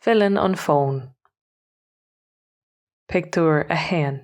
Filleann an fón. Pictiúr 1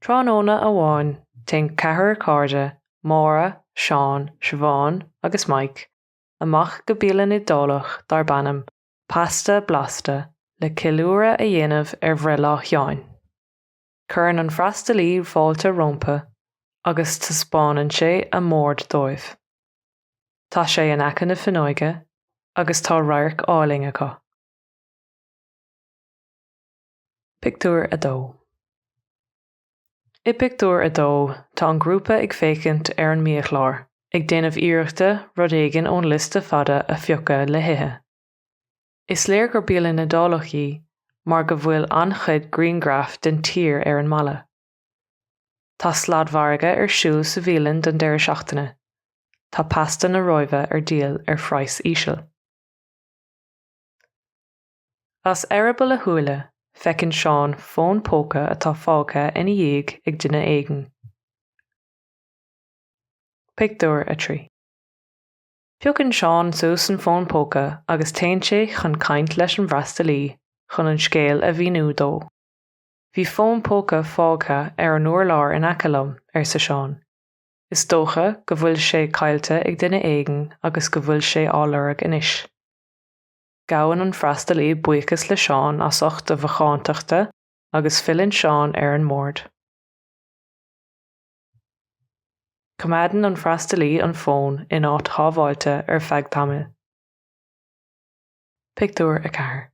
Tráthnóna amháin téann ceathrar cairde, Máire, Seán, Siobhán agus Mike, amach go bialann Iodálach darb ainm 'Pasta Blasta' le ceiliúradh a dhéanamh ar bhreithlá Sheáin. Cuireann an freastalaí fáilte rompu agus taispeánann sé a mbord dóibh. Tá sé in aice na fuinneoige agus tá radharc álainn acu. Pictiúr a dó I bpictiúr a dó tá an grúpa ag féachaint ar an mbiachlár ag déanamh iarrachta rud éigin ón liosta fada a phiocadh le hithe. Is léir gur bialann Iodálach í mar go bhfuil an-chuid grianghraf den tír ar an mballa. Tá sladmhargadh ar siúl sa bhialann don deireadh seachtaine. Tá pasta na Róimhe ar díol ar phraghas íseal. As eireaball a shúile, feiceann Seán fón póca atá fágtha ina dhiaidh ag duine éigin. Pictiúr 3. Piocann Seán suas an fón póca agus téann sé chun caint leis an bhfreastalaí chun an scéal a mhíniú dó. Bhí fón póca fágtha ar an urlár in aice liom, arsa Seán. Is dócha go bhfuil sé caillte ag duine éigin agus go bhfuil sé á lorg anois. Gabhann an freastalaí buíochas le Seán as ucht a mhacántachta agus filleann Seán ar an mbord. Coimeádann an freastalaí an fón in áit shábháilte ar feadh tamaill. Pictiúr 4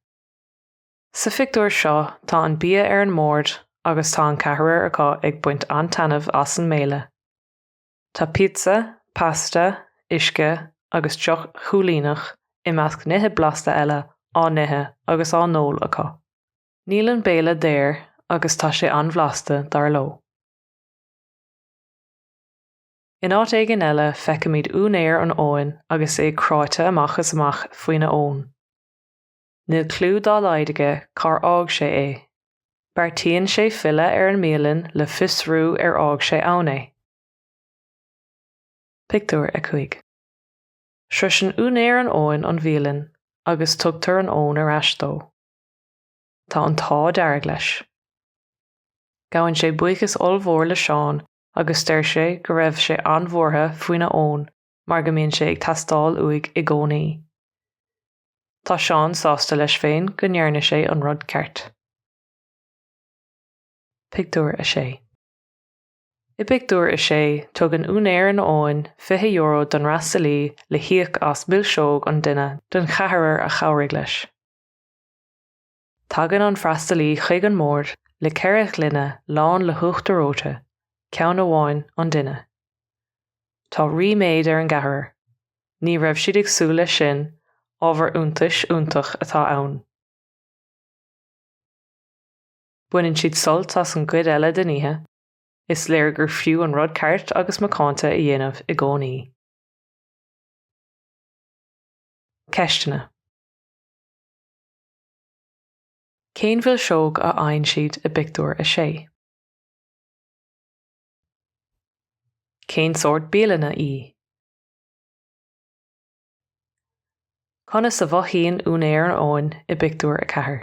Sa phictiúr seo tá an bia ar an mbord agus tá an ceathrar acu ag baint an-taitneamh as an mbéile. Tá píotsa, pasta, uisce agus deoch shúilíneach i measc nithe blasta eile á n-ithe agus á n-ól acu. Níl an béile daor agus tá sé an-bhlasta, dar leo. In áit éigin eile feicimid úinéir an fhóin agus é cráite amach is amach faoina fhón. Níl cliú dá laghad aige cár fhág sé é. Beartaíonn sé filleadh ar an mbialann le fiosrú ar fhág sé ann é. Pictiúr 5 Sroiseann úinéir an fhóin an bhialann agus tugtar an fhón ar ais dó. Tá an t-ádh dearg leis. Gabhann sé buíochas ollmhór le Seán agus deir sé go raibh sé an-bhuartha faoina fhón mar go mbíonn sé ag teastáil uaidh i gcónaí. Tá Seán sásta leis féin go ndearna sé an rud ceart. Pictiúr 6 I bpictiúr a sé, tugann úinéir an fhóin €20 don fhreastalaí le híoc as milseog an duine don cheathrar a chabhraigh leis. Tagann an freastalaí chuig an mbord le ceithre ghloine lán le huachtar reoite, ceann amháin an duine. Tá ríméad ar an gceathrar. Ní raibh siad ag súil leis sin, ábhar iontais iontach atá ann. Baineann siad sult as an gcuid eile den oíche, is léir gur fiú an rud ceart agus macánta a dhéanamh i gcónaí. Ceisteanna. Cén mhilseog a fhaigheann siad i bpictiúr a sé? Cén sórt bialainne í? Conas a mhothaíonn úinéir an fhóin i bpictiúr a ceathair?